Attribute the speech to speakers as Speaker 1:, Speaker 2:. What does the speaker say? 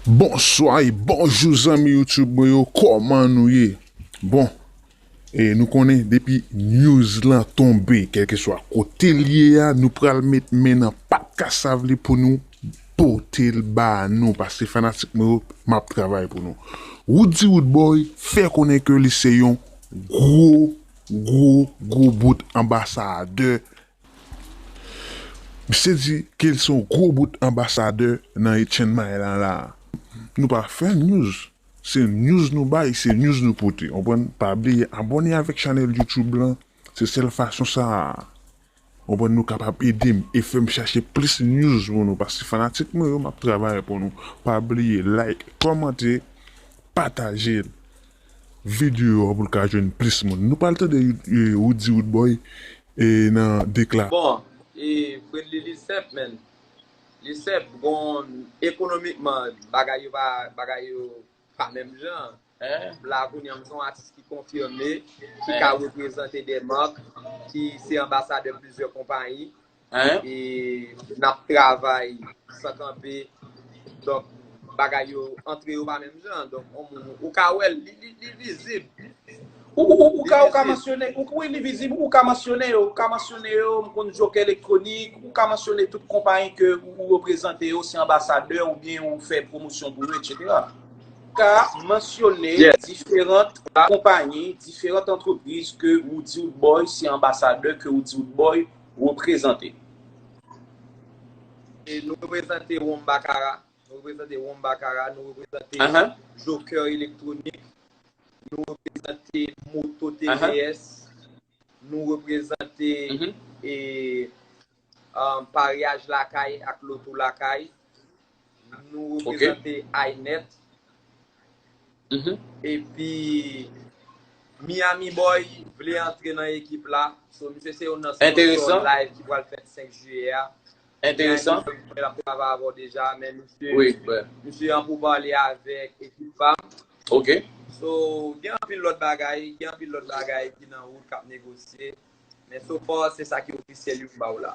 Speaker 1: Bonswa e bonjou zanmi YouTube mwen yo kòman nou ye bon e nou konnen depi news lan tonbe kèlkeswa kote li ye a nou pral met men nan pat kasav li pou nou pote l ba nou paske fanatik mwen yo map travay pou nou Roody Roodboy fè konnen ke li se yon gwo gwo gwo bout anbasadè Misye di kel se yon gwo bout anbasadè nan e Chiang Mai la la. Nou pa fè news se news nou bay se news nou pote konprann pa bliye abòne avèk chanèl YouTube lan se sèl fason sa konprann nou kapab edem e fèm chache plis news pou nou paske fanatik mwen yo map travay pou nou pa bliye like kòmante pataje video a poul ka jwenn plis moun nou pral tande Roody Roodboy e nan dekla. Bon e
Speaker 2: friendly li senp menn. Li senp bon ekonomikman bagay yo pa bagay yo pa menm jan m la kounye an m se yon atis ki konfime ki ka reprezante de mark ki se anbasadè plizyè konpayi e nap travay san kanpe donk bagay yo antre yo pa menm jan donk yon moun ou ka wèl li vizib.
Speaker 3: Ou ka ou ka mansyone, wi li vizib, ou ka mansyone yo, ou ka mansyone yo, m konn Joker Electronic, ou ka mansyone tout konpayi ke ou reprezante yo, se anbasadè ou byen ou fè pwomosyon pou yo, etc. Ou ka mansyone diferant konpayi, diferant antrepriz ke ou di ou t boy, se anbasadè ke ou di ou t boy reprezante. E nou reprezante
Speaker 2: Wonbakara. Nou reprezante Wonm Bakara, nou reprezante Jokè Elektwonik, nou reprezante Moto TVS, nou reprezante Paryaj Lakay ak Loto Lakay, nou reprezante Aynet, epi Miami Boy vle antre nan ekip la, so misye se youn nan sponsò live ki
Speaker 3: pral fèt
Speaker 2: 5 Jiyè a. Enteresan.
Speaker 3: Mwen ap travay
Speaker 2: avè w deja men misye Oui bè. Misye an
Speaker 3: pou pale
Speaker 2: avèk ekip pam. Ok.
Speaker 3: So gen
Speaker 2: anpil lòt bagay, gen anpil lòt bagay ki nan wout kap negosye men so far se sa ki ofisyèl yo m ba w la.